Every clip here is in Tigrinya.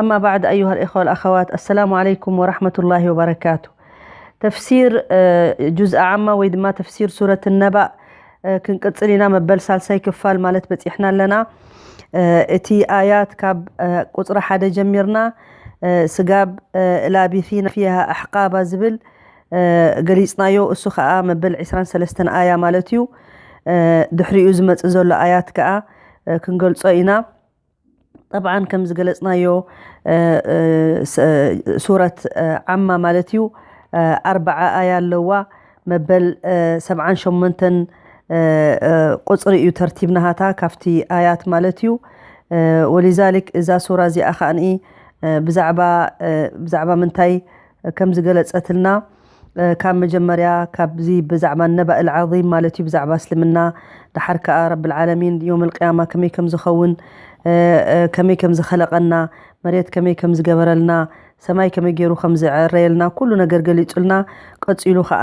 ኣማ ባዕድ ኣዩሃ ልእኸዋ ወልኣኸዋት ኣሰላሙ ዓለይኩም ወራሕመቱላሂ ወበረካቱ ተፍሲር ጁዝ ኣዓማ ወይ ድማ ተፍሲር ሱረት ነባእ ክንቅፅል ኢና መበል ሳልሳይ ክፋል ማለት በፂሕና ኣለና እቲ ኣያት ካብ ቁፅሪ ሓደ ጀሚርና ስጋብ ላቢሲና ፊሃ ኣሕቃባ ዝብል ገሊፅናዮ እሱ ከዓ መበል 23 ኣያ ማለት እዩ ድሕሪኡ ዝመፅእ ዘሎ ኣያት ከዓ ክንገልፆ ኢና ጠብዓን ከም ዝገለጽናዮ ሱረት ዓማ ማለት እዩ ኣርብዓ ኣያ ኣለዋ መበል ሰብዓን ሸሞንተን ቁጽሪ እዩ ተርቲብ ናሃታ ካብቲ ኣያት ማለት እዩ ወሊዛሊክ እዛ ሱራ እዚኣ ከኣ ብዛዕባ ብዛዕባ ምንታይ ከም ዝገለጸትልና ካብ መጀመርያ ካብዚ ብዛዕባ ነባእ ልዓዚም ማለት እዩ ብዛዕባ እስልምና ደሓር ከኣ ረብልዓለሚን ዮም ልቅያማ ከመይ ከም ዝኸውን ከመይ ከም ዝኸለቐና መሬት ከመይ ከም ዝገበረልና ሰማይ ከመይ ገይሩ ከም ዝዕረየልና ኩሉ ነገር ገሊጹልና ቀጺሉ ከኣ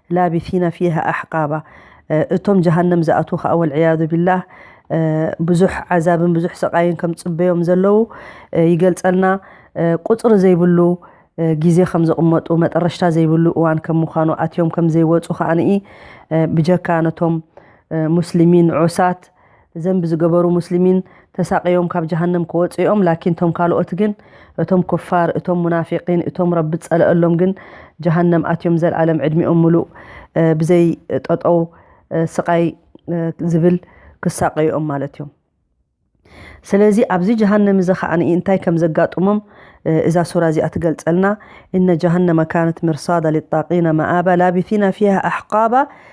ላቢሲና ፊሃ ኣሕቃባ እቶም ጀሃነም ዝኣትዉ ከኣ ወልዕያዙ ቢላህ ብዙሕ ዓዛብን ብዙሕ ስቓይን ከም ዝጽበዮም ዘለዉ ይገልጸልና ቁጽሪ ዘይብሉ ግዜ ከም ዘቕመጡ መጠረሽታ ዘይብሉ እዋን ከም ምዃኑ ኣትዮም ከም ዘይወጹ ከኣ ብጀካ ነቶም ሙስሊሚን ዑሳት ዘንቢ ዝገበሩ ሙስሊሚን ተሳቅዮም ካብ ጀሃነም ክወጹ እዮም ላኪን እቶም ካልኦት ግን እቶም ኩፋር እቶም ሙናፊቂን እቶም ረቢ ዝጸለኣሎም ግን ጀሃነም ኣትዮም ዘልኣለም ዕድሚኦም ምሉእ ብዘይ ጠጠው ስቃይ ዝብል ክሳቀዩ እዮም ማለት እዮም ስለዚ ኣብዚ ጀሃነም እዚ ከኣ እንታይ ከም ዘጋጥሞም እዛ ሱራ እዚኣ ትገልጸልና እነ ጀሃነመ ካነት ምርሳዳ ሊጣቂነ መኣባ ላቢቲነ ፊሃ ኣሕቃባ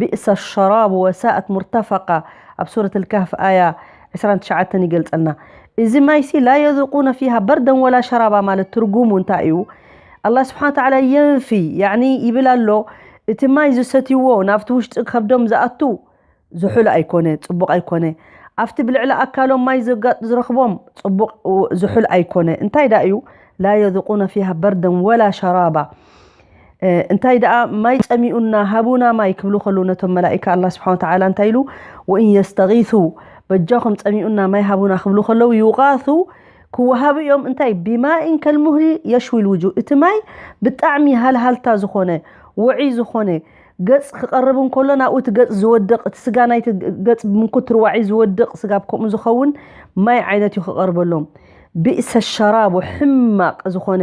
ቢእሰ ኣልሸራቡ ወሳኣት ሙርተፈቃ ኣብ ሱረት ኣልካህፍ ኣያ ዕስራን ትሽዓተን ይገልጸልና እዚ ማይሲ ላ የዙቁነ ፊሃ በርደን ወላ ሸራባ ማለት ትርጉሙ እንታይ እዩ ኣላ ስብሓን ወተዓላ የንፊ ያኒ ይብል ኣሎ እቲ ማይ ዝሰትይዎ ናብቲ ውሽጢ ከብዶም ዝኣቱ ዝሑል ኣይኮነ ጽቡቕ ኣይኮነ ኣብቲ ብልዕሊ ኣካሎም ማይ ዘጋጥ ዝረኽቦም ጽቡቕ ዝሑል ኣይኮነ እንታይ ዳ እዩ ላ የዙቁነ ፊሃ በርደን ወላ ሸራባ እንታይ ደኣ ማይ ጸሚኡና ሃቡና ማይ ክብሉ ከሉ ነቶም መላኢካ ኣላህ ስብሓነ ወተዓላ እንታይ ኢሉ ወኢን የስተጊሱ በጃኹም ጸሚኡና ማይ ሃቡና ክብሉ ከለዉ ዩቃሱ ክወሃቡ እዮም እንታይ ብማኢን ከልሙህሊ የሽዊ ልውጁ እቲ ማይ ብጣዕሚ ሃልሃልታ ዝኾነ ውዒ ዝኾነ ገጽ ክቐርብ እንከሎ ናብኡ እቲ ገጽ ዝወድቕ እቲ ስጋ ናይቲ ገጽ ብምንኩት ርዋዒ ዝወድቕ ስጋ ከምኡ ዝኸውን ማይ ዓይነት እዩ ክቐርበሎም ብእሰ ሸራቡ ሕማቕ ዝኾነ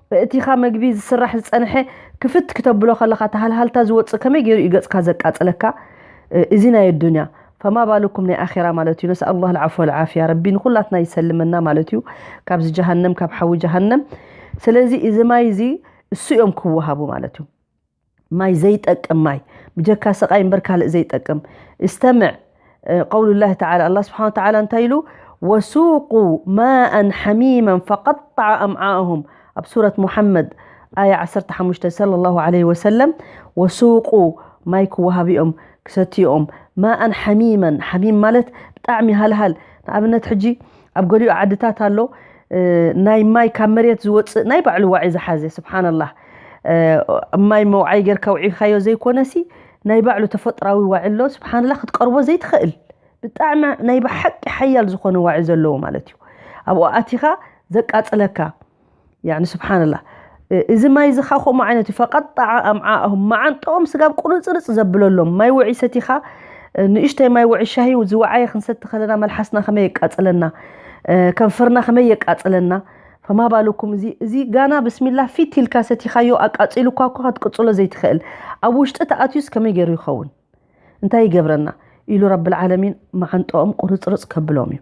በእቲኻ መግቢ ዝስራሕ ዝጸንሐ ክፍት ክተብሎ ከለኻ እቲ ሃልሃልታ ዝወጽእ ከመይ ገይሩ እዩ ገጽካ ዘቃጽለካ እዚ ናይ ኣዱንያ ፈማ ባሉኩም ናይ ኣኼራ ማለት እዩ ነስኣል ላህ ልዓፍ ወልዓፍያ ረቢ ንኹላትና ይሰልመና ማለት እዩ ካብዚ ጀሃነም ካብ ሓዊ ጀሃነም ስለዚ እዚ ማይ እዚ እሱ እዮም ክወሃቡ ማለት እዩ ማይ ዘይጠቅም ማይ ብጀካ ሰቃይ እምበር ካልእ ዘይጠቅም እስተምዕ ቀውሉ ላህ ተዓላ ኣላ ስብሓን ተዓላ እንታይ ኢሉ ወሱቁ ማእን ሓሚመን ፈቀጣዓ ኣምዓእሁም ኣብ ሱረት ሙሓመድ ኣያ 15 ሰለ ላሁ ዓለይሂ ወሰለም ወሱቁ ማይ ክወሃብኦም ክሰትዩኦም ማእን ሓሚመን ሓሚም ማለት ብጣዕሚ ሃልሃል ንኣብነት ሕጂ ኣብ ገሊኡ ዓድታት ኣሎ ናይ ማይ ካብ መሬት ዝወፅእ ናይ ባዕሉ ዋዒ ዝሓዘ ስብሓንላህ ማይ መውዓይ ጌርካ ውዒካዮ ዘይኮነሲ ናይ ባዕሉ ተፈጥራዊ ዋዒ ኣሎ ስብሓንላህ ክትቀርቦ ዘይትኽእል ብጣዕሚ ናይ ብሓቂ ሓያል ዝኾነ ዋዒ ዘለዎ ማለት እዩ ኣብኡ ኣቲኻ ዘቃፅለካ ያኒ ስብሓንላ እዚ ማይ እዚ ኸዓ ከምኡ ዓይነት እዩ ፈቀጣዓ ኣምዓእሁም መዓንጥኦም ስጋብ ቁርፅርፅ ዘብለሎም ማይ ውዒ ሰቲኻ ንእሽተይ ማይ ውዒ ሻሂ ዝወዓየ ክንሰቲ ከለና መልሓስና ከመይ የቃፅለና ከንፈርና ከመይ የቃፅለና ፈማ ባልኩም እዚ እዚ ጋና ብስሚላ ፊት ኢልካ ሰቲኻዮ ኣቃፂሉኳ እኳ ክትቅፅሎ ዘይትኽእል ኣብ ውሽጢ ተኣትዩስ ከመይ ገይሩ ይኸውን እንታይ ይገብረና ኢሉ ረብልዓለሚን መዓንጥኦም ቁርፅርፅ ከብሎም እዩ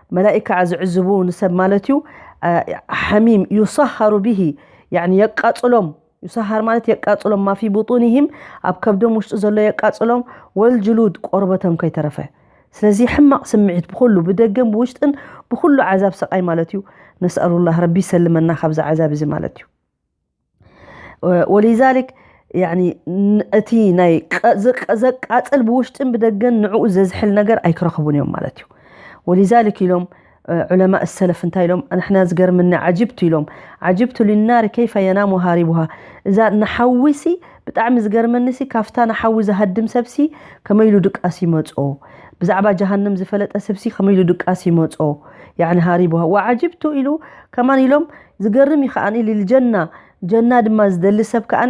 መላኢካ ዝዕዝቡ ንሰብ ማለት እዩ ሓሚም ዩሳሃሩ ብሂ የቃፅሎም ዩሳሃር ማለት የቃፅሎም ማፊ ቡጡኒሂም ኣብ ከብዶም ውሽጢ ዘሎ የቃፅሎም ወልጅሉድ ቆርበቶም ከይተረፈ ስለዚ ሕማቕ ስምዒት ብኩሉ ብደገን ብውሽጥን ብኩሉ ዓዛብ ሰቃይ ማለት እዩ ነስኣሉላህ ረቢ ይሰልመና ካብዚ ዓዛብ እዚ ማለት እዩ ወሊዛሊክ ያኒ ን- እቲ ናይ ቀ- ዘቀ- ዘቃጽል ብውሽጥን ብደገን ንዕኡ ዘዝሕል ነገር ኣይክረኽቡን እዮም ማለት እዩ ወሊዛሊክ ኢሎም እ፣ ዑለማ ሰለፍ እንታይ ኢሎም ንሕና ዝገርምና ዓጅብቱ ኢሎም ዓጅብቱ ሊናሪ ከይፈ የናሙ ሃሪቡሃ እዛ ንሓዊሲ ብጣዕሚ ዝገርመኒሲ ካብታ ንሓዊ ዝሃድም ሰብሲ ከመይ ኢሉ ድቃስ ይመጾ ብዛዕባ ጀሃንም ዝፈለጠ ሰብሲ ከመይ ኢሉ ድቃስ ይመጾ ያኒ ሃሪቡሃ ወዓጅብቱ ኢሉ ከማን ኢሎም ዝገርም እዩ ከኣ ሊሊ ጀና ጀና ድማ ዝደሊ ሰብ ከኣ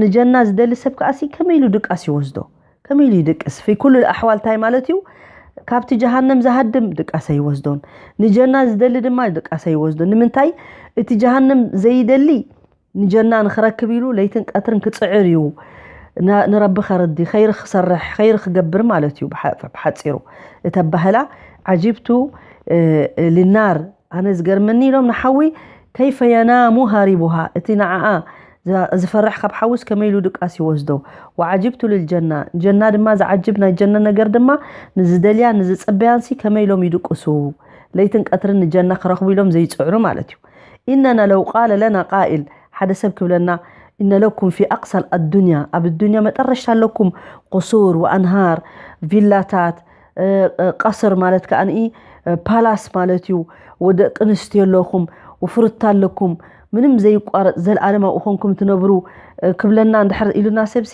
ንጀና ዝደሊ ሰብ ከኣ ከመይ ኢሉ ድቃስ ይወስዶ ከመይ ኢሉ ይድቅስ ፊ ኩሉ ኣሕዋል ታይ ማለት እዩ ካብቲ ጀሃነም ዝሃድም ድቃስ ኣይወስዶን ንጀና ዝደሊ ድማ ድቃስ ኣይወስዶን ንምንታይ እቲ ጀሃነም ዘይደሊ ንጀና ንክረክብ ኢሉ ለይትን ቀትርን ክጽዕር እዩ ንረቢ ከርዲ ኸይሪ ክሰርሕ ኸይሪ ክገብር ማለት እዩ ብሓጺሩ እቲ ኣባህላ ዓጂብቱ ሊናር ኣነ ዝገርመኒ ኢሎም ንሓዊ ከይፈ የናሙ ሃሪቡሃ እቲ ንዓኣ ዝፈርሕ ካብ ሓዊስ ከመይ ኢሉ ድቃስ ይወስዶ ወዓጂብቱ ልልጀና ጀና ድማ ዝዓጅብ ናይ ጀነ ነገር ድማ ንዝደልያን ንዝጽበያንሲ ከመይ ኢሎም ይድቅሱ ለይትን ቀትርን ንጀና ክረኽቡ ኢሎም ዘይጽዕሩ ማለት እዩ ኢነና ለው ቃለ ለና ቃኢል ሓደ ሰብ ክብለና ኢነ ለኩም ፊ ኣቅሳል ኣዱንያ ኣብ ኣዱንያ መጠረሽታ ኣለኩም ቁሱር ወኣንሃር ቪላታት ቀስር ማለት ከኣ ፓላስ ማለት እዩ ወደቂ ኣንስትዮ ኣለኹም ውፍርታ ኣለኩም ምንም ዘይቋረጽ ዘልኣለም ኣብኡ ኮንኩም ትነብሩ ክብለና እንድሕር ኢሉና ሰብሲ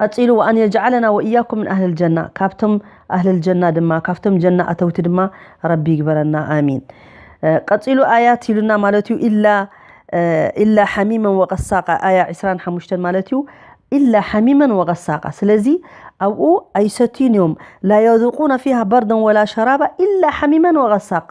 ቀጺሉ ወኣን የጅዓለና ወእያኩም ምን ኣህሊል ጀና ካብቶም ኣህሊል ጀና ድማ ካብቶም ጀና ኣተውቲ ድማ ረቢ ይግበረና ኣሚን ቀጺሉ ኣያት ኢሉና ማለት እዩ ኢላ ኢላ ሓሚመን ወቀሳቃ ኣያ ዕስራን ሓሙሽተን ማለት እዩ ኢላ ሓሚመን ወቀሳቃ ስለዚ ኣብኡ ኣይሰትዩን እዮም ላ የذቁነ ፊሃ በርደን ወላ ሸራባ ኢላ ሓሚመን ወቀሳቃ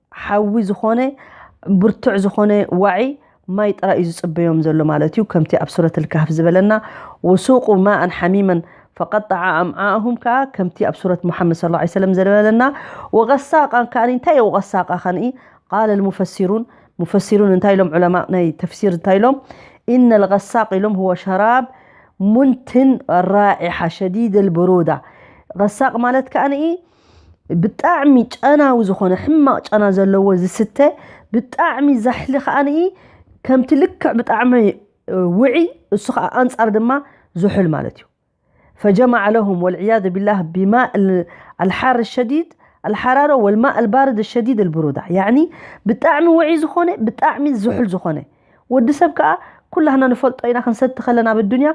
ሓዊ ዝኾነ ብርቱዕ ዝኾነ ዋዒ ማይ ጥራይ እዩ ዝጽበዮም ዘሎ ማለት እዩ ከምቲ ኣብ ሱረት ልካህፍ ዝበለና ወሱቁ ማእን ሓሚመን ፈቀጣዓ ኣምዓእሁም ከዓ ከምቲ ኣብ ሱረት ሙሓመድ ስ ላ ሰለም ዝበለና ወቀሳቃን ከኣ እንታይ እዩ ቀሳቃ ከንኢ ቃለ ልሙፈሲሩን ሙፈሲሩን እንታይ ኢሎም ዑለማ ናይ ተፍሲር እንታይ ኢሎም ኢነ ልቀሳቅ ኢሎም ህወ ሸራብ ሙንትን ራኢሓ ሸዲድ ልብሩዳ ቀሳቅ ማለት ከኣ ብጣዕሚ ጨናዊ ዝኾነ ሕማቕ ጨና ዘለዎ ዝስተ ብጣዕሚ ዛሕሊ ከዓኒ ከምቲ ልክዕ ብጣዕሚ ውዒ እሱ ከዓ ኣንጻር ድማ ዝሑል ማለት እዩ ፈጀማዕ ለሁም ወልዕያዙ ቢላህ ቢማእ ኣልሓር ሸዲድ ኣልሓራሮ ወልማእ ኣልባርድ ሸዲድ ኣልብሩዳ ያዕኒ ብጣዕሚ ውዒ ዝኾነ ብጣዕሚ ዝሑል ዝኾነ ወዲ ሰብ ከዓ ኩላህና ንፈልጦ ኢና ክንሰቲ ከለና ኣብ ኣዱንያ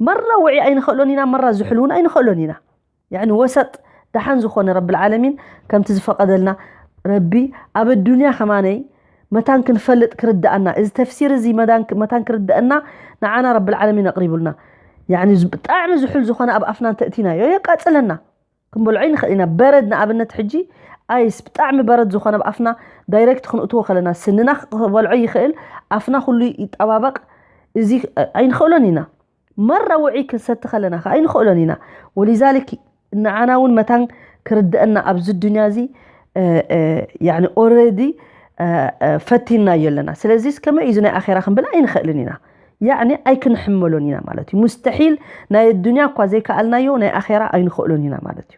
መራ ውዒ ኣይንኽእሎን ኢና መራ ዝሑል እውን ኣይንኽእሎን ኢና ያኒ ወሰጥ ደሓን ዝኾነ ረብልዓለሚን ከምቲ ዝፈቐደልና ረቢ ኣብ ኣዱንያ ከማነይ መታን ክንፈልጥ ክርድኣና እዚ ተፍሲር እዚ መታን ክርድአና ንዓና ረብልዓለሚን ኣቕሪቡልና ያኒ ብጣዕሚ ዝሑል ዝኾነ ኣብ ኣፍና እንተእቲናዮ የቃፅለና ክንበልዖ ይንኽእል ኢና በረድ ንኣብነት ሕጂ ኣይስ ብጣዕሚ በረድ ዝኾነ ኣብ ኣፍና ዳይሬክት ክንእትዎ ከለና ስንና ክበልዖ ይኽእል ኣፍና ኩሉ ይጠባበቕ እዚ ኣይንኽእሎን ኢና መራ ውዑይ ክንሰቲ ከለና ከኣ ኣይንኸእሎን ኢና። ወሊዛሊክ ንዓና እውን መታን ክርደእና ኣብዚ ዱንያ እዚ ያኒ ኦረዲ ፈቲንናዮ ኣለና። ስለዚስ ከመይ እዩ እዚ ናይ ኣኼራ ክንብል ኣይንኸእልን ኢና። ያኒ ኣይክንሕመሎን ኢና ማለት እዩ። ሙስተሒል ናይ ኣዱንያ እኳ ዘይከኣልናዮ ናይ ኣኼራ ኣይንኸእሎን ኢና ማለት እዩ።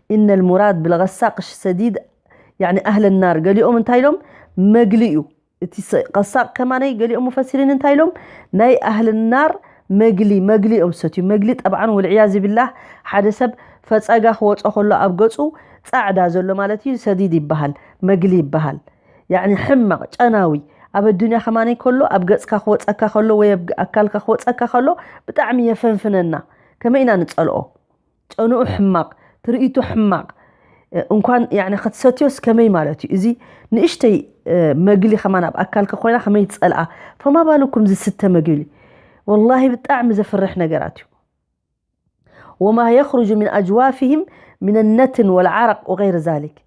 ኢነ ልሙራድ ብልቀሳቅሽ ሰዲድ ያኒ ኣህለ ናር ገሊኦም እንታይ ኢሎም መግሊ እዩ እቲ ቀሳቅ ከማነይ ገሊኦም ፈሲሪን እንታይ ኢሎም ናይ ኣህል ናር መግሊ መግሊ እዮም ሰትዩ መግሊ ጠብዓን ወልዕያዝ ቢላህ ሓደ ሰብ ፈፀጋ ክወፆ ከሎ ኣብ ገፁ ፃዕዳ ዘሎ ማለት እዩ ሰዲድ ይበሃል መግሊ ይበሃል ያኒ ሕማቅ ጨናዊ ኣብ ኣዱንያ ከማነይ ከሎ ኣብ ገፅካ ክወፀካ ከሎ ወይ ኣብ ኣካልካ ክወፀካ ከሎ ብጣዕሚ የፈንፍነና ከመይ ኢና ንፀልኦ ጨንኡ ሕማቅ ትርኢቱ ሕማቅ እንኳን ያኒ ክትሰትዮስ ከመይ ማለት እዩ እዚ ንእሽተይ መግሊ ከማን ኣብ ኣካልካ ኮይና ከመይ ትጸልኣ ፈማ ባልኩም ዝስተ መግሊ ወላሂ ብጣዕሚ ዘፍርሕ ነገራት እዩ ወማ የኽርጁ ምን ኣጅዋፍህም ምን ነትን ወልዓረቅ ወገይር ዛሊክ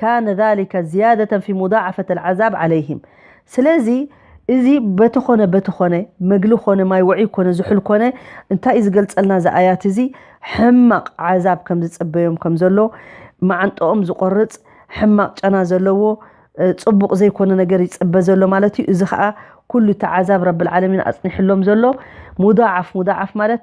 ካነ ዛሊከ ዝያደተን ፊ ሙዳዓፈት ኣልዓዛብ ዓለይሂም ስለዚ እዚ በቲ ኾነ በቲ ኾነ መግሊ ኾነ ማይ ውዑይ ኮነ ዝሑል ኮነ እንታይ እዩ ዝገልጸልና እዚ ኣያት እዚ ሕማቕ ዓዛብ ከም ዝጽበዮም ከም ዘሎ መዓንጠኦም ዝቖርጽ ሕማቕ ጨና ዘለዎ ጽቡቕ ዘይኮነ ነገር ይጽበ ዘሎ ማለት እዩ እዚ ከዓ ኩሉ እቲ ዓዛብ ረብልዓለሚን ኣጽኒሕሎም ዘሎ ሙዳዓፍ ሙዳዓፍ ማለት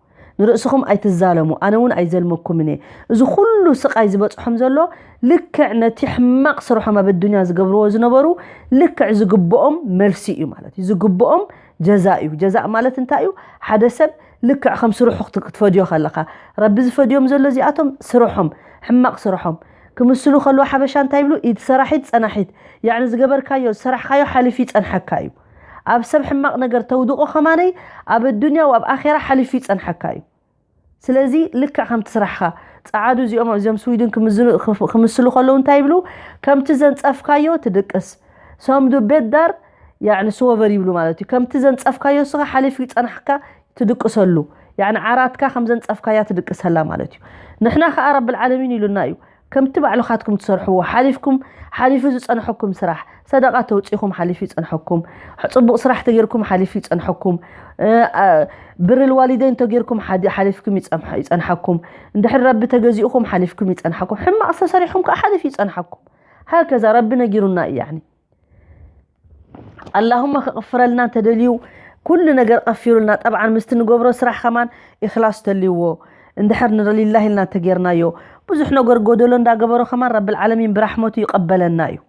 ንርእስኹም ኣይትዛለሙ ኣነ እውን ኣይዘልመኩምን እየ እዚ ኩሉ ስቃይ ዝበፅሖም ዘሎ ልክዕ ነቲ ሕማቅ ስርሖም ኣብ ኣዱንያ ዝገብርዎ ዝነበሩ ልክዕ ዝግብኦም መልሲ እዩ ማለት እዩ ዝግብኦም ጀዛእ እዩ ጀዛእ ማለት እንታይ እዩ ሓደ ሰብ ልክዕ ከም ስርሑ ክትፈድዮ ከለካ ረቢ ዝፈድዮም ዘሎ እዚኣቶም ስርሖም ሕማቅ ስርሖም ክምስሉ ከለዎ ሓበሻ እንታይ ይብሉ ኢድ ሰራሒት ፀናሒት ያዕኒ ዝገበርካዮ ዝሰራሕካዮ ሓሊፍ ይፀንሐካ እዩ ኣብ ሰብ ሕማቅ ነገር ተውድቆ ከማነይ ኣብ ኣዱንያ ወኣብ ኣኼራ ሓሊፉ ይጸንሓካ እዩ ስለዚ ልክዕ ከምቲ ስራሕኻ ጸዓዱ እዚኦም እዚኦም ስዊድን ክምስሉ ከለዉ እንታይ ይብሉ ከምቲ ዘንጸፍካዮ ትድቅስ ሰምዱ ቤት ዳር ያዕኒ ስወቨር ይብሉ ማለት እዩ ከምቲ ዘንጸፍካዮ ስኻ ሓሊፉ ይጸንሓካ ትድቅሰሉ ያዕኒ ዓራትካ ከም ዘንጸፍካያ ትድቅሰላ ማለት እዩ ንሕና ከኣ ረብል ዓለሚን ኢሉና እዩ ከምቲ ባዕልኻትኩም ትሰርሕዎ ሓሊፍኩም ሓሊፉ ዝጸንሐኩም ስራሕ ሰደቓ ተውጺኹም ሓሊፉ ይጸንሐኩም ጽቡቕ ስራሕ ተጌርኩም ሓሊፉ ይጸንሐኩም ብሪ ልዋሊደይን ተጌርኩም ሓሊፍኩም ይጸንሐኩም እንድሕር ረቢ ተገዚኡኹም ሓሊፍኩም ይጸንሐኩም ሕማቕ ዝተሰሪሕኩም ከዓ ሓሊፉ ይጸንሐኩም ሃከዛ ረቢ ነጊሩና እዩ ያኒ ኣላሁመ ክቕፍረልና እንተደልዩ ኩሉ ነገር ቐፊሩልና ጠብዓን ምስቲ ንገብሮ ስራሕ ኸማን ኢኽላስ ተልይዎ እንድሕር ንረሊላሂ ኢልና እንተጌርናዮ ብዙሕ ነገር ጎደሎ እንዳገበሮ ኸማን ረብልዓለሚን ብራሕመቱ ይቐበለና እዩ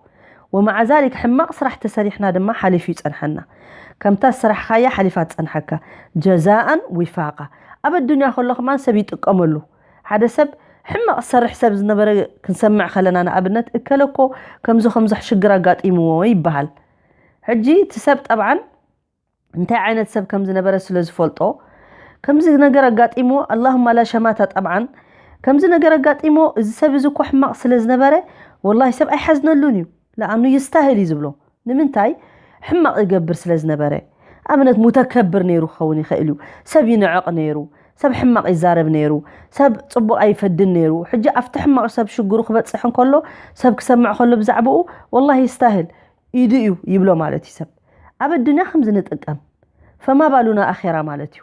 ወመዓ ዛሊክ ሕማቕ ስራሕ ተሰሪሕና ድማ ሓሊፉ ይጸንሓና ከምታ ዝሰራሕኻያ ሓሊፋ ትጸንሓካ ጀዛኣን ዊፋቓ ኣብ ኣዱንያ ከሎ ኸማን ሰብ ይጥቀመሉ ሓደ ሰብ ሕማቅ ዝሰርሕ ሰብ ዝነበረ ክንሰምዕ ከለና ንኣብነት እከለ እኮ ከምዚ ከምዚ ሽግር ኣጋጢምዎ ይበሃል ሕጂ እቲ ሰብ ጠብዓን እንታይ ዓይነት ሰብ ከም ዝነበረ ስለ ዝፈልጦ ከምዚ ነገር ኣጋጢምዎ ኣላሁማ ላ ሸማታ ጠብዓን ከምዚ ነገር ኣጋጢምዎ እዚ ሰብ እዚ እኮ ሕማቅ ስለ ዝነበረ ወላሂ ሰብ ኣይሓዝነሉን እዩ ለኣኑ ይስታህል እዩ ዝብሎ ንምንታይ ሕማቅ ይገብር ስለ ዝነበረ ኣብነት ሙተከብር ነይሩ ክከውን ይክእል እዩ ሰብ ይንዕቅ ነይሩ ሰብ ሕማቅ ይዛረብ ነይሩ ሰብ ፅቡቅ ኣይፈድን ነይሩ ሕጂ ኣብቲ ሕማቅ ሰብ ሽግሩ ክበፅሕ እንከሎ ሰብ ክሰምዕ ከሎ ብዛዕብኡ ወላሂ ይስታህል ኢዱ እዩ ይብሎ ማለት እዩ ሰብ ኣብ ኣዱንያ ከምዚ ንጥቀም ፈማ ባሉና ኣኼራ ማለት እዩ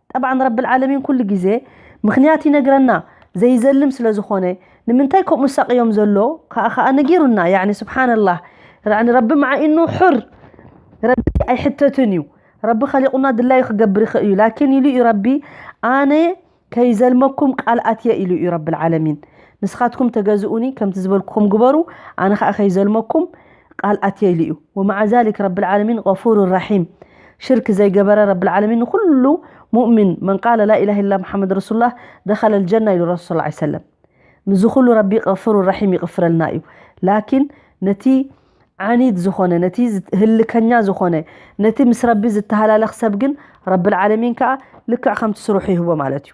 ጠብዓን ረቢ ልዓለሚን ኩሉ ግዜ ምኽንያት ይነግረና ዘይዘልም ስለ ዝኾነ ንምንታይ ከምኡ ዝሳቕዮም ዘሎ ከኣ ከኣ ነጊሩና ያዕኒ ስብሓንላህ ያዕኒ ረቢ መዓ ኢኑ ሑር ረቢ ኣይሕተትን እዩ ረቢ ኸሊቑና ድላዩ ክገብር ይኽእል እዩ ላኪን ኢሉ እዩ ረቢ ኣነ ከይዘልመኩም ቃል ኣትየ ኢሉ እዩ ረቢ ልዓለሚን ንስኻትኩም ተገዝኡኒ ከምቲ ዝበልኩኹም ግበሩ ኣነ ከኣ ከይዘልመኩም ቃል ኣትየ ኢሉ እዩ ወመዓ ዛሊክ ረቢ ልዓለሚን ገፉሩ ራሒም ሽርክ ዘይገበረ ረቢ ልዓለሚን ንኹሉ ሙእሚን መን ቃለ ላኢላህ ኢላ መሓመድ ረሱሉላህ ደኸለ ልጀና ኢሉ ረሱል ሰለላሁ ዐለይሂ ወሰለም ምዚ ኩሉ ረቢ ገፉሩ ራሒም ይቕፍረልና እዩ ላኪን ነቲ ዓኒድ ዝኾነ ነቲ ህልከኛ ዝኾነ ነቲ ምስ ረቢ ዝተሃላለኽ ሰብ ግን ረቢ ልዓለሚን ከዓ ልክዕ ከምቲ ስርሑ ይህቦ ማለት እዩ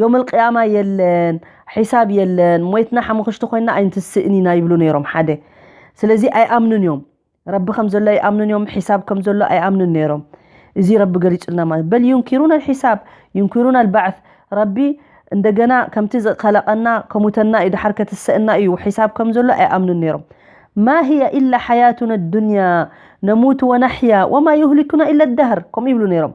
ዮመል ቅያማ የለን ሒሳብ የለን ሞይትና ሓሙኽሽቲ ኮይና ኣይንትስእን ኢና ይብሉ ነይሮም ሓደ ስለዚ ኣይኣምኑን እዮም ረቢ ከም ዘሎ ኣይኣምኑን እዮም ሒሳብ ከም ዘሎ ኣይኣምኑን ነይሮም እዚ ረቢ ገሊጹልና ማለት በል ዩንኪሩን ኣልሒሳብ ዩንኪሩን ኣልባዕት ረቢ እንደገና ከምቲ ዝኸለቐና ከሙተና እዩ ድሓር ከትሰእና እዩ ሒሳብ ከም ዘሎ ኣይኣምኑን ነይሮም ማ ህያ ኢላ ሓያቱና ኣዱንያ ነሙት ወናሕያ ወማ ዩህሊኩና ኢላ ዳህር ከምኡ ይብሉ ነይሮም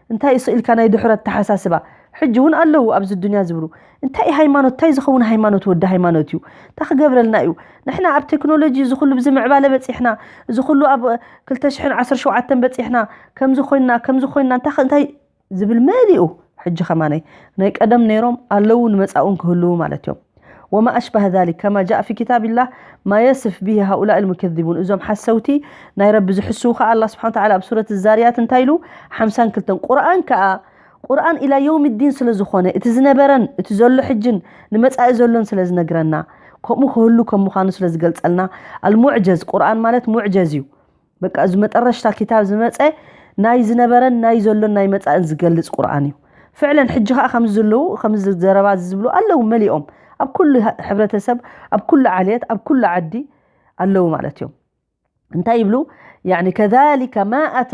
እንታይ እዩ ስእልካ ናይ ድሑር ኣተሓሳስባ ሕጂ ውን ኣለዉ ኣብዚ ኣዱንያ ዝብሉ እንታይ እዩ ሃይማኖት እንታይ ዝኸውን ሃይማኖት ወዲ ሃይማኖት እዩ እንታይ ክገብረልና እዩ ንሕና ኣብ ቴክኖሎጂ እዚ ኩሉ ብዚ ምዕባለ በጺሕና እዚ ኩሉ ኣብ ክልተ ሽሕን ዓሰርተ ሸውዓተን በጺሕና ከምዚ ኮይንና ከምዚ ኮይንና እንታይ ከ እንታይ ዝብል መሊኡ ሕጂ ከማነይ ናይ ቀደም ነይሮም ኣለዉ ንመጻእውን ክህልዉ ማለት እዮም ወማ ኣሽባህ ዛሊክ ከማ ጃእ ፊ ኪታቢላህ ማ የስፍ ቢሂ ሃኡላኢል ሙከዚቡን እዞም ሓሰውቲ ናይ ረቢ ዝሕስዉ ከኣ ኣላህ ስብሓነ ወተዓላ ኣብ ሱረት ዛርያት እንታይ ኢሉ ሓምሳን ክልተን ቁርኣን ከኣ ቁርኣን ኢላ የውሚ ዲን ስለ ዝኾነ እቲ ዝነበረን እቲ ዘሎ ሕጅን ንመጻኢ ዘሎን ስለ ዝነግረና ከምኡ ክህሉ ከም ምዃኑ ስለ ዝገልጸልና ኣልሙዕጀዝ ቁርኣን ማለት ሙዕጀዝ እዩ በቃ እዚ መጠረሽታ ክታብ ዝመጸ ናይ ዝነበረን ናይ ዘሎን ናይ መጻእን ዝገልጽ ቁርኣን እዩ ፍዕለን ሕጂ ከዓ ከምዚ ዘለዉ ከምዚ ዘረባ እዚ ዝብሉ ኣለዉ መሊኦም ኣብ ኩሉ ሕብረተሰብ ኣብ ኩሉ ዓልየት ኣብ ኩሉ ዓዲ ኣለዉ ማለት እዮም እንታይ ይብሉ ያኒ ከዛሊከ ማ ኣታ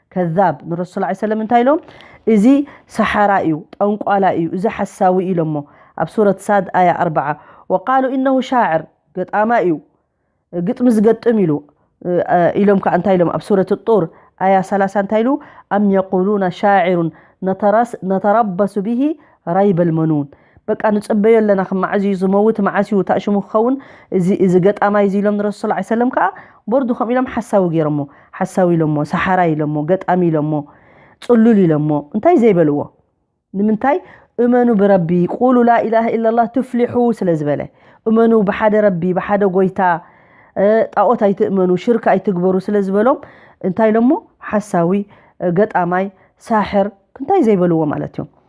ከዛብ ንረሱል ስ ሰለም እንታይ ኢሎም እዚ ሰሓራ እዩ ጠንቋላ እዩ እዚ ሓሳዊ እዩ ኢሎሞ ኣብ ሱረት ሳድ ኣያ ኣርዓ ወቃሉ እነሁ ሻዕር ገጣማ እዩ ግጥሚ ዝገጥም ኢሉ ኢሎም ከዓ እንታይ ኢሎም ኣብ ሱረት ጡር ኣያ ሰላሳ እንታይ ኢሉ ኣም የቁሉና ሻዕሩን ነተረበሱ ብሂ ራይበልመኑን በቃ ንጽበዮ ኣለና ክም መዓዝ እዩ ዝመውት መዓስ እዩ እታ ሽሙ ክኸውን እዚ እዚ ገጣማይ እዚ ኢሎም ንረሱል ሰለላሁ ዐለይሂ ወሰለም ከኣ ቦርዱ ከምኡ ኢሎም ሓሳዊ ገይሮሞ ሓሳዊ ኢሎሞ ሰሓራይ ኢሎሞ ገጣሚ ኢሎሞ ጽሉል ኢሎሞ እንታይ ዘይበልዎ ንምንታይ እመኑ ብረቢ ቁሉ ላኢላሃ ኢላላህ ትፍሊሑ ስለ ዝበለ እመኑ ብሓደ ረቢ ብሓደ ጎይታ ጣዖት ኣይትእመኑ ሽርክ ኣይትግበሩ ስለ ዝበሎም እንታይ ኢሎሞ ሓሳዊ ገጣማይ ሳሕር እንታይ ዘይበልዎ ማለት እዮም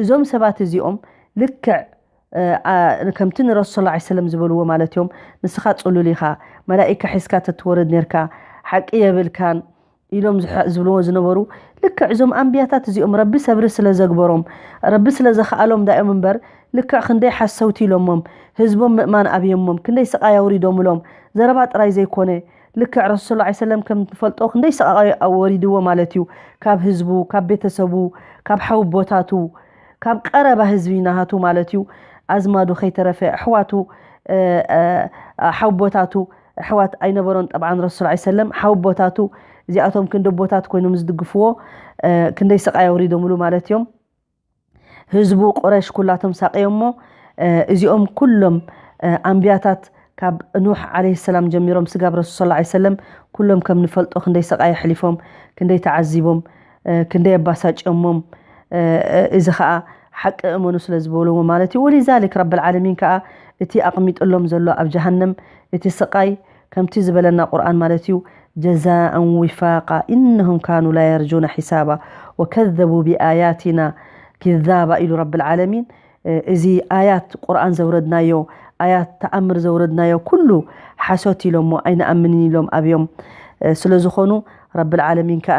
እዞም ሰባት እዚኦም ልክዕ ከምቲ ንረሱል ሰለላሁ ዐለይሂ ወሰለም ዝበልዎ ማለት እዮም ንስኻ ጽሉል ኢኻ መላኢካ ሒዝካ ተትወርድ ኔርካ ሓቂ የብልካን ኢሎም ዝብልዎ ዝነበሩ ልክዕ እዞም ኣንብያታት እዚኦም ረቢ ሰብሪ ስለ ዘግበሮም ረቢ ስለ ዘኽኣሎም ዳዮም እምበር ልክዕ ክንደይ ሓሰውቲ ኢሎሞም ህዝቦም ምእማን ኣብዮሞም ክንደይ ስቓይ ኣውሪዶምሎም ዘረባ ጥራይ ዘይኮነ ልክዕ ረሱል ሰለላሁ ዓለይሂ ወሰለም ከም ንፈልጦ ክንደይ ሰቓቓይ ወሪድዎ ማለት እዩ ካብ ህዝቡ ካብ ቤተሰቡ ካብ ሓውቦታቱ ካብ ቀረባ ህዝቢ ናሃቱ ማለት እዩ ኣዝማዱ ከይተረፈ ኣሕዋቱ ሓውቦታቱ ኣሕዋት ኣይነበሮን ጠብዓን ረሱል ሰለላሁ ዓለይሂ ወሰለም ሓውቦታቱ እዚኣቶም ክንዲ ኣቦታት ኮይኖም ዝድግፍዎ ክንደይ ስቓይ ኣውሪዶምሉ ማለት እዮም ህዝቡ ቁረሽ ኩላቶም ሳቅዮሞ እዚኦም ኩሎም ኣንብያታት ካብ ኑሕ ዓለይሂ ሰላም ጀሚሮም ስጋብ ረሱል ሰለላሁ ዓለይሂ ወሰለም ኩሎም ከም ንፈልጦ ክንደይ ስቃይ ኣሕሊፎም ክንደይ ተዓዚቦም ክንደይ ኣባሳጭዮሞም እዚ ከኣ ሓቂ እመኑ ስለ ዝበልዎ ማለት እዩ ወሊዛሊክ ረብል ዓለሚን ከኣ እቲ ኣቅሚጥሎም ዘሎ ኣብ ጀሃነም እቲ ስቃይ ከምቲ ዝበለና ቁርኣን ማለት እዩ ጀዛኣን ዊፋቃ ኢነሁም ካኑ ላየርጁነ ሒሳባ ወከዘቡ ቢኣያቲና ኪዛባ ኢሉ ረቢ ልዓለሚን እዚ ኣያት ቁርኣን ዘውረድናዮ ኣያት ተኣምር ዘውረድናዮ ኩሉ ሓሶት ኢሎሞ ኣይንኣምንን ኢሎም ኣብዮም ስለዝኾኑ ረቢ ልዓለሚን ከኣ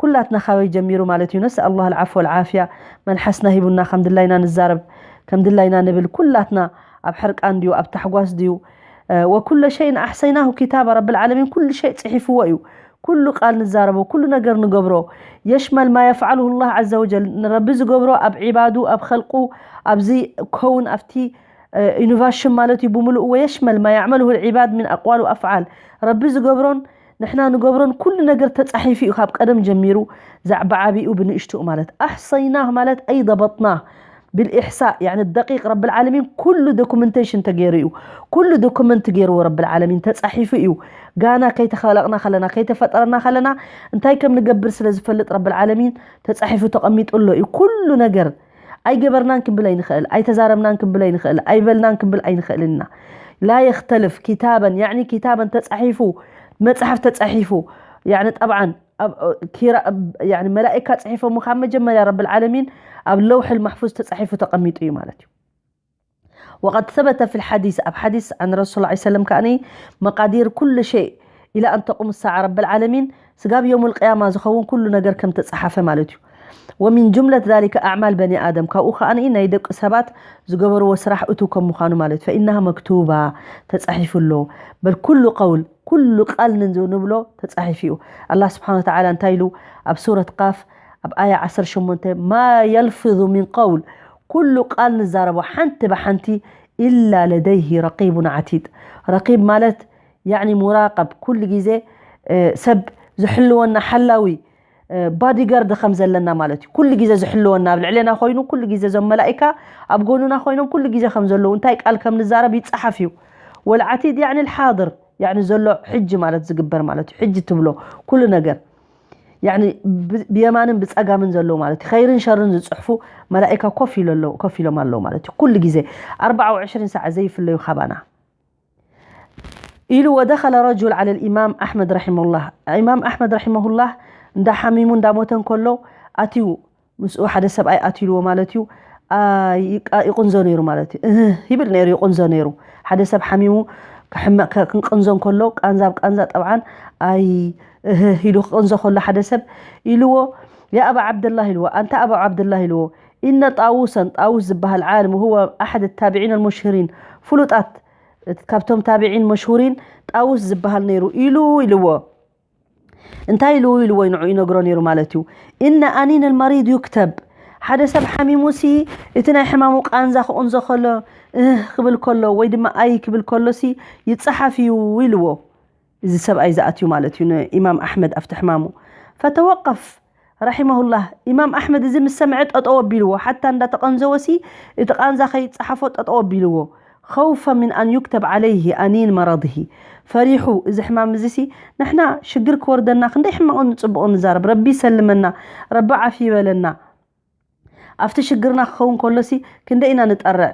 ኩላትና ካበይ ጀሚሩ ማለት እዩ ነስኣል ላህ ኣልዓፍወ ወልዓፍያ መልሓስና ሂቡና ከም ድላይና ንዛረብ ከም ድላይና ንብል ኩላትና ኣብ ሕርቃን ድዩ ኣብ ታሕጓስ ድዩ ወኩለ ሸይን ኣሕሰይናሁ ኪታባ ረብልዓለሚን ኩሉ ሸይ ጽሒፍዎ እዩ ኩሉ ቃል ንዛረቦ ኩሉ ነገር ንገብሮ የሽመል ማ የፍዓልሁ ላህ ዓዘ ወጀል ንረቢ ዝገብሮ ኣብ ዒባዱ ኣብ ኸልቁ ኣብዚ ከውን ኣብቲ ኢኖቫሽን ማለት እዩ ብምሉእ ወየሽመል ማ ያዕመልሁ ልዒባድ ምን ኣቅዋል ኣፍዓል ረቢ ዝገብሮን ንሕና ንገብሮን ኩሉ ነገር ተጻሒፉ እዩ ካብ ቀደም ጀሚሩ ዛዕባ ዓቢኡ ብንእሽትኡ ማለት ኣሕሰይናህ ማለት ኣይ ضበጥናህ ብልኢሕሳእ ያኒ ደቂቅ ረቢ ልዓለሚን ኩሉ ዶኩመንቴሽን ተገይሩ እዩ ኩሉ ዶኩመንት ገይርዎ ረቢ ልዓለሚን ተጻሒፉ እዩ ጋና ከይተኸለቕና ከለና ከይተፈጠረና ከለና እንታይ ከም ንገብር ስለ ዝፈልጥ ረቢ ልዓለሚን ተጻሒፉ ተቐሚጡ ኣሎ እዩ ኩሉ ነገር ኣይገበርናን ክንብል ኣይንኽእል፣ ኣይተዛረብናን ክንብል ኣይንኽእል፣ ኣይበልናን ክንብል ኣይንኽእልን ኢና። ላ የኽተልፍ ኪታበን ያዕኒ ኪታበን ተጻሒፉ መጽሓፍ ተጻሒፉ ያዕኒ ጠብዓን መላእካ ጽሒፎሞ ካብ መጀመርያ ረብልዓለሚን ኣብ ለውሕል ማሕፉዝ ተጻሒፉ ተቐሚጡ እዩ ማለት እዩ። ወቀድ ሰበተ ፊል ሓዲስ ኣብ ሓዲስ ዓን ረሱል ዓይ ሰለም ከኣ መቃዲር ኩሉ ሸይ ኢላ ኣን ተቁም ሳዓ ረበል ዓለሚን ስጋብ የውሙል ቅያማ ዝኸውን ኩሉ ነገር ከም ተጸሓፈ ማለት እዩ ወሚን ጁምለት ዛሊከ ኣዕማል በኒ ኣደም ካብኡ ከኣ ናይ ደቂ ሰባት ዝገበርዎ ስራሕ እቱ ከም ምዃኑ ማለት ፈኢነሃ መክቱባ ተጸሒፉ ኣሎ በል ኩሉ ቀውል ኩሉ ቃል ንንዙ ንብሎ ተጻሒፉ እዩ። ኣላህ ስብሓነሁ ወተዓላ እንታይ ኢሉ ኣብ ሱረት ቃፍ ኣብ ኣያ ዓሰርተ ሸሞንተ ማ የልፍዙ ሚን ቀውል ኩሉ ቃል ንዛረቦ ሓንቲ ብሓንቲ ኢላ ለደይሂ ረቂቡን ዓቲድ ረቂብ ማለት ያዕኒ ሙራቀብ ኩሉ ግዜ ሰብ ዝሕልወና ሓላዊ ባዲጋርድ ከም ዘለና ማለት እዩ ኩሉ ግዜ ዝሕልወና ኣብ ልዕሌና ኮይኑ ኩሉ ግዜ እዞም መላኢካ ኣብ ጎኑና ኮይኖም ኩሉ ግዜ ከም ዘለዉ እንታይ ቃል ከም ንዛረብ ይጸሓፍ እዩ ወልዓቲድ ያዕኒ ልሓድር ያዕኒ ዘሎ ሕጂ ማለት ዝግበር ማለት እዩ ሕጂ ትብሎ ኩሉ ነገር ያዕኒ ብ- ብየማንን ብጸጋምን ዘለዉ ማለት እዩ ኸይርን ሸርን ዝጽሕፉ መላኢካ ኮፍ ኢሎ ኣለዉ- ኮፍ ኢሎም ኣለዉ ማለት እዩ ኩሉ ግዜ 24 ሰዓት ዘይፍለዩ ካባና ኢሉ ወደኸለ ረጁል ዓለ ልኢማም ኣሕመድ ረሒመሁላህ ኢማም ኣሕመድ ረሒመሁላህ እንዳ ሓሚሙ እንዳ ሞተ እንከሎ ኣትዩ ምስኡ ሓደ ሰብኣይ ኣትዩልዎ ማለት እዩ ይቕንዞ ነይሩ ማለት እዩ እህ ይብል ነይሩ ይቕንዞ ነይሩ ሓደ ሰብ ሓሚሙ ክንቅንዞ እንከሎ ቃንዛ ብ ቃንዛ ጠብዓን ኣይ እህ ኢሉ ክቕንዞ ከሎ ሓደ ሰብ ኢልዎ ያ ኣባ ዓብደላህ ኢልዎ ኣንታ ኣባ ዓብደላህ ኢልዎ ኢነ ጣውሰን፣ ጣውስ ዝባሃል ዓልም ወሁወ ኣሐድ ታቢዒን ኣልሙሽሁሪን፣ ፍሉጣት ካብቶም ታቢዒን መሽሁሪን ጣውስ ዝባሃል ነይሩ ኢሉ ኢልዎ። እንታይ ኢሉ ኢልዎ ንዑ ይነግሮ ነይሩ ማለት እዩ። ኢነ ኣኒን ኣልመሪድ ዩክተብ ሓደ ሰብ ሓሚሙሲ እቲ ናይ ሕማሙ ቃንዛ ክቕንዞ ከሎ እህ ክብል ከሎ ወይ ድማ ኣይ ክብል ከሎሲ ይጸሓፍ እዩ ኢልዎ። እዚ ሰብኣይ ዝኣትዩ ማለት እዩ ንኢማም ኣሕመድ ኣብቲ ሕማሙ። ፈተወቀፍ ረሒመሁላህ ኢማም ኣሕመድ እዚ ምስ ሰምዐ ጠጠው ኣቢልዎ ሓታ እንዳተቀንዘወሲ እቲ ቃንዛ ከይጸሓፎ ጠጠው ኣቢልዎ ኸውፈ ምን ኣን ዩክተብ ዓለይህ ኣኒን መረድህ ፈሪሑ እዚ ሕማም እዚሲ ንሕና ሽግር ክወርደና ክንደይ ሕማቅን ጽቡቅን ንዛረብ ረቢ ይሰልመና ረቢ ዓፊ ይበለና ኣፍቲ ሽግርና ክከውን ከሎሲ ክንደይ ኢና ንጠርዕ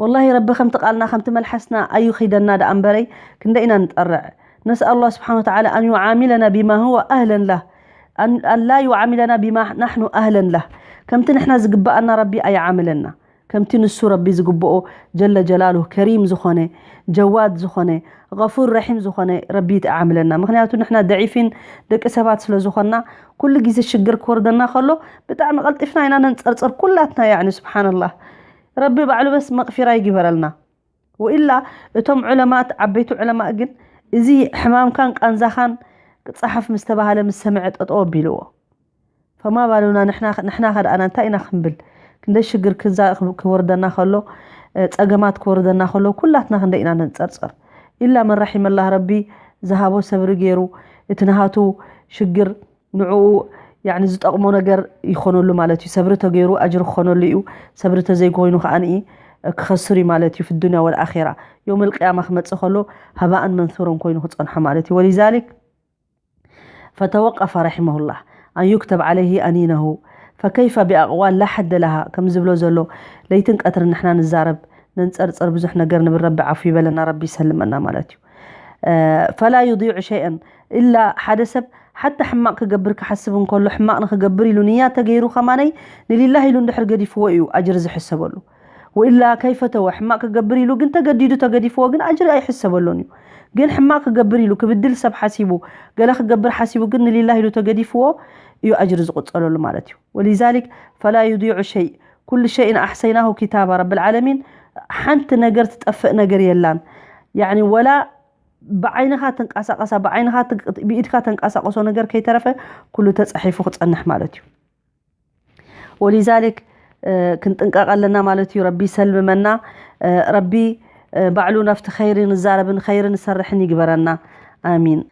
ወላሂ ረቢ ከምቲ ቃልና ከምቲ መልሓስና ኣይኺደና ደኣ እምበረይ ክንደይ ኢና ንጠርዕ ነስኣሉ ላህ ስብሓን ወተዓላ ኣን ዩዓሚለና ቢማ ሁወ ኣህለን ላህ ኣን ላ ዩዓሚለና ቢማ ናሕኑ ኣህለን ላህ ከምቲ ንሕና ዝግበኣና ረቢ ኣይዓምለና ከምቲ ንሱ ረቢ ዝግብኦ ጀለ ጀላሉ ከሪም ዝኾነ ጀዋድ ዝኾነ غፉር ረሒም ዝኾነ ረቢ ይጥዓምለና ምክንያቱ ንሕና ደዒፊን ደቂ ሰባት ስለ ዝኾና ኩሉ ግዜ ሽግር ክወርደና ከሎ ብጣዕሚ ቀልጢፍና ኢና ነንጸርጽር ኩላትና ያዕኒ ስብሓንላህ ረቢ ባዕሉ በስ መቕፊራ ይግበረልና ወኢላ እቶም ዑለማት ዓበይቲ ዑለማእ ግን እዚ ሕማምካን ቃንዛኻን ጸሓፍ ምስ ተባህለ ምስ ሰምዐ ጠጠው ኣቢልዎ ፈማ ባሉና ንሕና ንሕና ከደኣና እንታይ ኢና ክንብል ክንደይ ሽግር ክዛ ክወርደና ከሎ ጸገማት ክወርደና ከሎ ኩላትና ክንደይ ኢና ነንጸርጸር ኢላ መን ራሒመላህ ረቢ ዝሃቦ ሰብሪ ገይሩ እቲ ንሃቱ ሽግር ንዕኡ ያኒ ዝጠቕሞ ነገር ይኾነሉ ማለት እዩ። ሰብሪ ተገይሩ ኣጅሪ ክኾነሉ እዩ፣ ሰብሪ ተዘይኮይኑ ከኣ ክኸስር እዩ ማለት እዩ፣ ፊዱንያ ወልኣኺራ። የውመል ቂያማ ክመጽእ ከሎ ሃባእን መንሱረን ኮይኑ ክጸንሖ ማለት እዩ። ወሊዛሊክ ፈተወቀፈ ረሒመሁላህ ኣን ዩክተብ ዓለይሂ ኣኒነሁ ፈከይፈ ቢኣቅዋል ላ ሐደ ለሃ ከም ዝብሎ ዘሎ ለይትን ቀትርን ንሕና ንዛረብ፣ ነንጸርጽር፣ ብዙሕ ነገር ንብል ረቢ ዓፉ ይበለና ረቢ ይሰልመና ማለት እዩ። ፈላ ዩዲዑ ሸይኣን ኢላ ሓደ ሰብ ሓታ ሕማቅ ክገብር ክሓስብ እንከሎ ሕማቅ ንክገብር ኢሉ ንያ ተገይሩ ከማነይ ንሊላህ ኢሉ እንድሕር ገዲፍዎ እዩ ኣጅሪ ዝሕሰበሉ ወኢላ ከይፈተወ ሕማቅ ክገብር ኢሉ ግን ተገዲዱ ተገዲፍዎ ግን ኣጅሪ ኣይሕሰበሉን እዩ ግን ሕማቅ ክገብር ኢሉ ክብድል ሰብ ሓሲቡ ገለ ክገብር ሓሲቡ ግን ንሊላህ ኢሉ ተገዲፍዎ እዩ ኣጅሪ ዝቁፀረሉ ማለት እዩ ወሊዛሊክ ፈላ ዩዲዑ ሸይ ኩሉ ሸይን ኣሕሰይናሁ ኪታባ ረቢ ልዓለሚን ሓንቲ ነገር ትጠፍእ ነገር የላን ያኒ ወላ ብዓይንኻ ትንቃሳቀሳ ብዓይንኻ ብኢድካ ተንቃሳቀሶ ነገር ከይተረፈ ኩሉ ተጻሒፉ ክጸንሕ ማለት እዩ ወሊዛሊክ ክንጥንቀቅ ኣለና ማለት እዩ ረቢ ሰልምመና ረቢ ባዕሉ ናብቲ ኸይሪ ንዛረብን ኸይሪ ንሰርሕን ይግበረና ኣሚን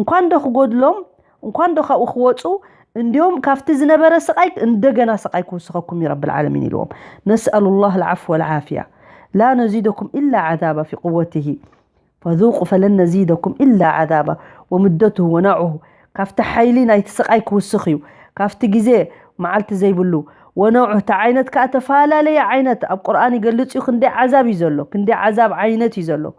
እንኳን ዶ ክጎድሎም እንኳን ዶ ካብኡ ክወፁ እንዲሁም ካብቲ ዝነበረ ስቃይ እንደገና ስቃይ ክውስኸኩም እዩ ረቢ ልዓለሚን ኢልዎም ነስኣሉ ላህ ልዓፍ ወልዓፍያ ላ ነዚደኩም ኢላ ዓዛባ ፊ ቁወትሂ ፈذوቁ ፈለን ነዚደኩም ኢላ ዓዛባ ወምደትሁ ወናዑሁ ካብቲ ሓይሊ ናይቲ ስቃይ ክውስኽ እዩ ካብቲ ግዜ መዓልቲ ዘይብሉ ወነዑ እቲ ዓይነት ከዓ ተፈላለየ ዓይነት ኣብ ቁርኣን ይገልፅ እዩ ክንደይ ዓዛብ እዩ ዘሎ ክንደይ ዓዛብ ዓይነት እዩ ዘሎ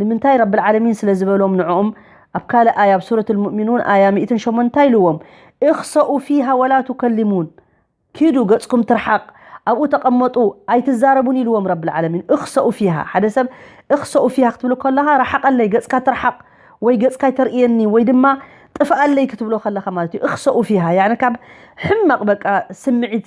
ንምንታይ ረቢ ልዓለሚን ስለ ዝበሎም ንዕኡም ኣብ ካልእ ኣያ ኣብ ሱረት ልሙእሚኑን ኣያ ሚእትን ሸሞንተ እንታይ ኢልዎም እኽሰኡ ፊሃ ወላ ቱከልሙን ኪዱ ገጽኩም ትርሓቅ ኣብኡ ተቀመጡ ኣይትዛረቡን ኢልዎም ረቢ ልዓለሚን እኽሰኡ ፊሃ ሓደ ሰብ እኽሰኡ ፊሃ ክትብሉ ከለኻ ራሓቀለይ ገጽካ ትርሓቅ ወይ ገጽካ ኣይተርእየኒ ወይ ድማ ጥፍኣለይ ክትብሎ ከለኻ ማለት እዩ እኽሰኡ ፊሃ ያኒ ካብ ሕማቅ በቃ ስምዒት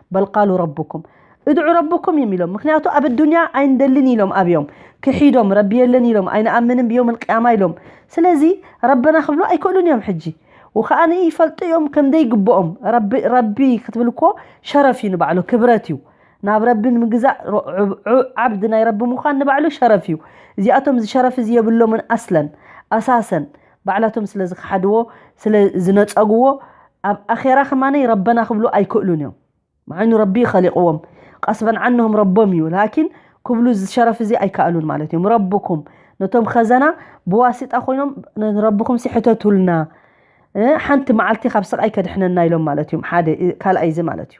በል ቃሉ ረቡኩም እድዑ ረቡኩም እዮም ኢሎም ምክንያቱ ኣብ ኣዱንያ ኣይንደልን ኢሎም ኣብዮም ክሒዶም ረቢ የለን ኢሎም ኣይንኣምንን ብዮም ልቅያማ ኢሎም ስለዚ ረበና ክብሉ ኣይክእሉን እዮም ሕጂ ወከኣነ ይፈልጡ እዮም ከምደይ ግብኦም ረቢ ረቢ ክትብል እኮ ሸረፍ እዩ ንባዕሉ ክብረት እዩ ናብ ረቢ ንምግዛእ ሮ- ዑ- ዑ- ዓብዲ ናይ ረቢ ምዃን ንባዕሉ ሸረፍ እዩ እዚኣቶም እዚ ሸረፍ እዚ የብሎምን ኣስለን ኣሳሰን ባዕላቶም ስለ ዝኸሓድዎ ስለ ዝነጸግዎ ኣብ ኣኼራ ከማነይ ረበና ክብሉ ኣይክእሉን እዮም መዓይኑ ረቢ ኸሊቕዎም ቀስበን ዓንሁም ረቦም እዩ ላኪን ክብሉ እዚ ሸረፍ እዚ ኣይከኣሉን ማለት እዮም ረብኩም ነቶም ኸዘና ብዋሲጣ ኮይኖም ንረብኹም ሲ ሕተቱልና እ፣ ሓንቲ መዓልቲ ካብ ስቓይ ከድሕነና ኢሎም ማለት እዮም ሓደ እ፣ ካልኣይ እዚ ማለት እዩ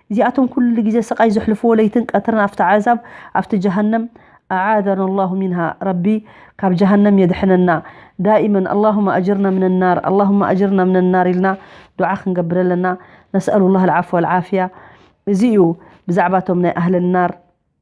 እዚኣቶም ኩሉ ግዜ ስቃይ ዘሕልፍዎ ለይትን ቀትርን ኣብቲ ዓዛብ ኣብቲ ጀሃነም ኣዓዘና ኣላሁ ሚንሃ ረቢ ካብ ጀሃነም የድሕነና ዳኢመን ኣላሁመ ኣጅርና ምነ ናር ኣላሁመ ኣጅርና ምነ ናር ኢልና ዱዓ ክንገብር ኣለና ነስኣሉላህ ኣልዓፍወ ኣልዓፍያ እዚ እዩ ብዛዕባ እቶም ናይ ኣህለናር